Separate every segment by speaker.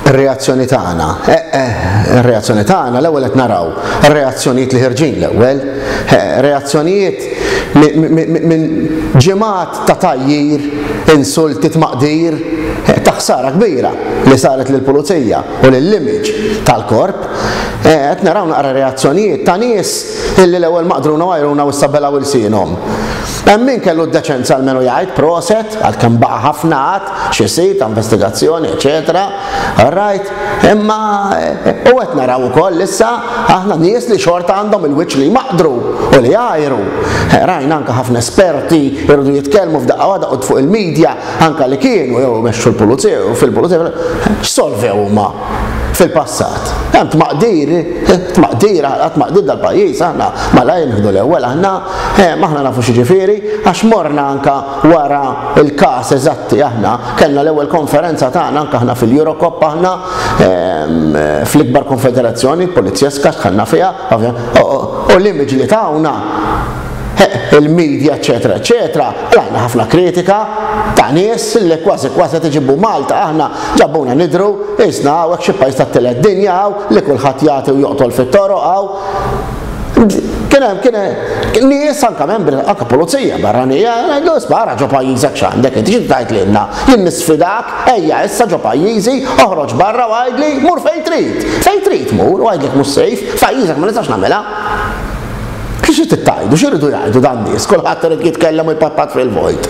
Speaker 1: Ir-reazzjoni tagħna. Eh, eh, ir-reazzjoni tagħna l-ewwel qed naraw reazzjonijiet li ħirġin l-ewwel, eh, reazzjonijiet minn ġimgħat ta' tajjir, insulti tmaqdir, eh, ta' ħsara kbira li saret lill pulizija u lill-image tal-korp, eh, qed naraw naqra reazzjonijiet ta' nies illi l-ewwel maqdruna għajruna u issabelaw ilsienhom. Hemm min kellu d-deċenza l-menu jgħid proset għalkemm baqa' ħafna xi sit ta' investigazzjoni, eċetera. Rajt, imma u qed naraw ukoll issa aħna nies li xorta għandhom il-wiċċ li jmaqdru u li jgħajru. Rajna anke ħafna esperti jridu jitkellmu f'daqqa waħda u fuq il-medja anke li kienu jew mexxu l-pulizija u fil-pulizija x'solvew huma fil-passat. Hemm tmaqdir, tmaqdir, tmaqdir dal-pajjiż aħna malajr nieħdu l-ewwel aħna, aħna nafu xi ġifieri għax morna anke wara l-każ eżatti aħna kellna l-ewwel konferenza tagħna anke aħna fil-Eurocop aħna ehm, fl-ikbar konfederazzjoni polizjeska dħalna fiha u l-image li tawna il-medja eċetera eċetera għandna ħafna kritika ta' nies li kważi kważi tiġibu Malta aħna ġabuna nidru isna hawnhekk xi pajjiż tat-tielet dinja hawn li kulħadd jagħti u joqtol fit-toroq hawn Kien hemm kien li issa anke membri anke pulizija barranija ngħidlu spara ġo pajjiżek x'għandek inti xi tgħid lilna. Jien nisfidak ejja issa ġo pajjiżi oħroġ barra u għidli mur fejn trid. Fejn trid mur u għidlek mhux sejf, pajjiżek ma nistax nagħmilha. Xi tittajdu, xi rridu jgħidu dan nies, kulħadd irid jitkellem u jpatpat fil-vojt.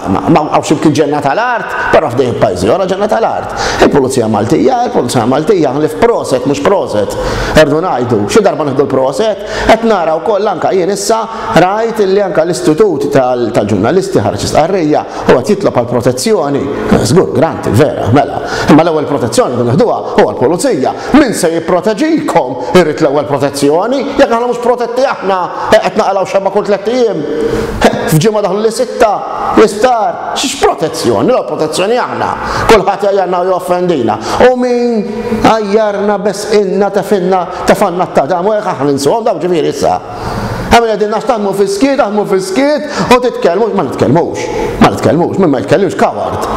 Speaker 1: Ma hawnx imkien ġenna tal-art, però f'dejn pajjiżi ora ġenna tal-art. Il-Pulizija Maltija, il-Pulizija Maltija, ħlif proset, mhux proset, erdu ngħidu, xi darba nieħdu l-proset, qed nara wkoll anke jien issa rajt li anke l-Istitut tal-Ġurnalisti ħarġ istqarrija u qed jitlob għal protezzjoni. Żgur, granti, vera, mela. Imma l-ewwel protezzjoni li nieħduha huwa l-Pulizija. Min se jipproteġikom irrid l-ewwel protezzjoni, jekk aħna mhux protetti aħna qed naqalgħu xemma kull tliet ijiem. F'ġimgħa daħlu li sitta. L-isptar, x'protezzjoni? L-ewwel protezzjoni aħna. Kulħadd jgħajjarna u joffendina. U min għajjarna besqilna tefinna tefanna t-tadam u hekk aħna ninsuhom dawn ġifieri issa. Għamil għedin nax taħmu fiskiet, taħmu fiskiet, u titkellmu, ma nitkellmux, ma nitkellmux, minn ma jitkellmux kaward.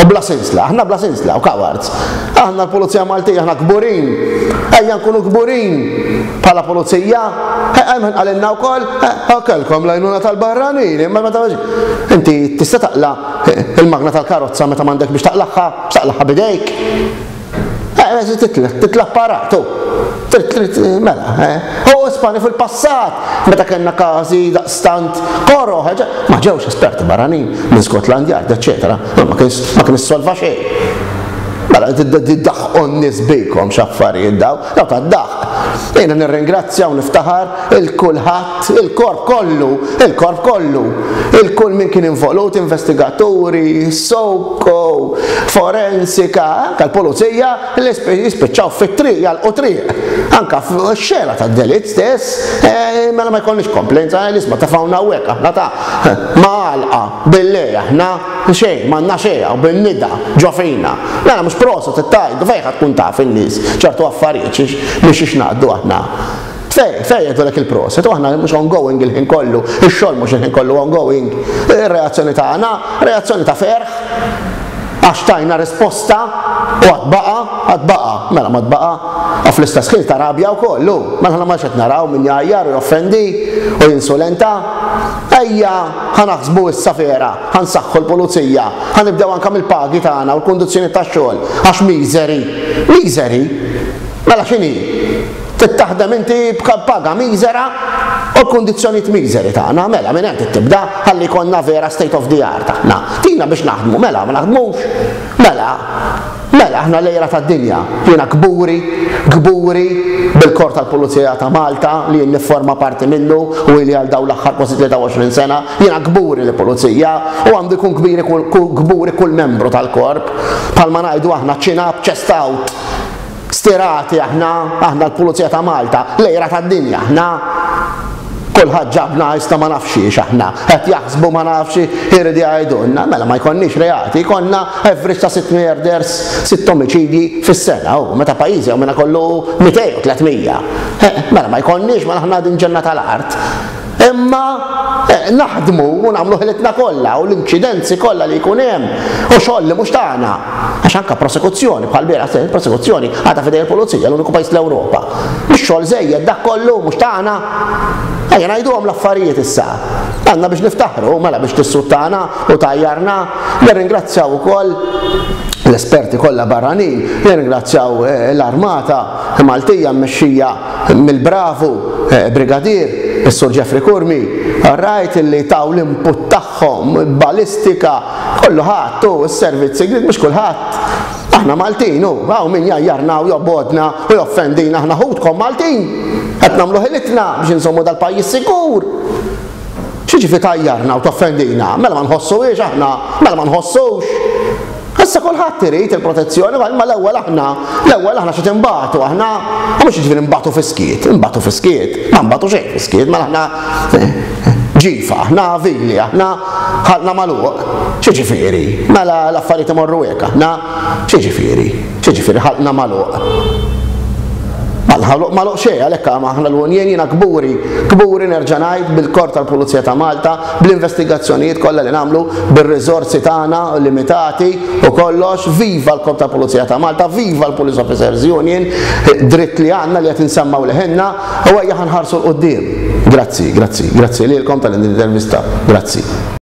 Speaker 1: U bla sinsla, aħna bla sinsla u kaward. Aħna l-Polizija Maltija, aħna kburin, ejja nkunu kburin. Bħala pulizija? Hemm qalilna wkoll, kellkom l-għajnuna tal-barranin, imma meta inti tista' taqla il-magna tal-karozza meta m'għandek biex taqlagħha, taqlagħha bidejk. Titla' paratu. Mela, u Spani fil-passat, meta kellna każi daqstant koro, ma ġewx esperti barranin minn Scotland Yard, eċetera, ma kien issolva xejn. Mela, tiddaħħu n-nies bikom x'affarijiet daw, Dawk għad-daħq. Jiena nirringrazzja u niftaħar il-kulħadd, il-korp kollu, il-korp kollu, il-kull min kien involut, investigaturi, soko, forensika, anke l-pulizija li jispiċċaw fit-triq, jalqu triq, anke f'xena tad-delitt stess, eh, mela ma jkollniex komplenza, eh, l-isma ta' fawna hawnhekk aħna ta' ma għalqa. Billi aħna, xejn, m'għandna xejn u bin-nida ġo fina. Mela mhux proset it-tajdu, fejn ħa tkun taf in-nies ċertu affarijiet xiex minn xiex ngħaddu aħna? Fejn, fejn jgħidulek il-proset u aħna li mhux ongoing il-ħin kollu, ix-xogħol mhux il-ħin kollu ongoing, ir-reazzjoni tagħna, reazzjoni ta' ferħ għax tajna risposta u għad baqa, għad baqa, mela ma tbaqa, u fl-istess ħin ta' rabja wkoll, u mela ma xed naraw min jgħajjar u joffendi u jinsulenta. Ejja, ħa naħsbu issa vera, ħa nsaħħu l-pulizija, ħa nibdew anke mill-pagi tagħna u l-kundizzjonijiet tax-xogħol, għax miżeri. Miżeri? Mela x'inhi? Trid taħdem inti b'paga miżera u l-kundizzjonijiet miżeri tagħna, mela minn hemm tibda ħalli jkollna vera state of the art aħna. Tina biex naħdmu, mela ma naħdmux? Mela, Mela, aħna l-għira tad-dinja. Jiena kburi, kburi bil-Korp tal-Pulizija ta' Malta li jien nifforma parti minnu u ili għal dawn l-aħħar kważi 23 sena. Jiena kburi li Pulizija u għandu jkun kbiri kburi kull membru tal-Korp. Bħalma ngħidu aħna chin up, chest out. Stirati aħna, aħna l-Pulizija ta' Malta, l-għira tad-dinja aħna. Kulħadd ġabna iżda ma nafx xiex aħna. Qed jaħsbu ma nafx irid jgħidulna. Mela ma jkollniex reati, jkollna average ta' sitt murders, sitt omiċidji fis-sena. U meta pajjiżi hawn minna kollu 200 u 300. Eh, mela ma jkollniex mela aħna din ġenna tal-art. Imma eh, naħdmu u nagħmlu ħilitna kollha u l-inċidenzi kollha li jkun hemm u xogħol li mhux tagħna. Għax anke prosekuzzjoni bħal bieraħ prosekuzzjoni għadha fidej il-pulizija l-uniku pajjiż l-Ewropa Mhux xogħol żejjed dak kollu, mhux tagħna? Ejja ngħiduhom l-affarijiet issa. Għandna biex niftaħru, mela biex tissuttana u tajjarna, nirringrazzjaw ukoll l-esperti kollha barranin, nirringrazzjaw eh, l-armata Maltija mmexxija mill-bravu eh, brigadier, is-Sur Jeffrey Kurmi, rajt li taw l-input tagħhom, balistika, kollu ħadd u s-servizzi, mhux kulħadd Aħna Maltin u hawn min jgħajjarna u jobgħodna u joffendina aħna ħutkom Maltin. Qed nagħmlu ħilitna biex insommu dal-pajjiż sikur. X'jiġifieri tajjarna u toffendina? Mela ma nħossuhiex aħna, mela ma nħossux. Issa kulħadd irid il-protezzjoni, ma l-ewwel aħna, l-ewwel aħna xi tinbatu aħna, u mhux jiġifieri nbatu fiskiet, nbatu fiskiet, ma nbatu xejn fiskiet, mela aħna ġifa, aħna avili, aħna ħalna magħluq. X'jiġifieri? Mela l-affarijiet imorru hekk aħna? X'jiġifieri? X'jiġifieri ħalqna magħluq? Ħalq magħluq xejn għalhekk aħna l-Unjen jiena kburi, kburi nerġa' ngħid bil-Kor tal-Pulizija ta' Malta, bl-investigazzjonijiet kollha li nagħmlu, bir-riżorsi tagħna limitati u kollox, viva l-Kor tal-Pulizija ta' Malta, viva l-Police Officers Union, dritt li għandna li qed insemmaw leħinna, U ejja ħa nħarsu 'l quddiem. Grazzi, grazzi, grazzi lilkom tal-din l-intervista. Grazzi.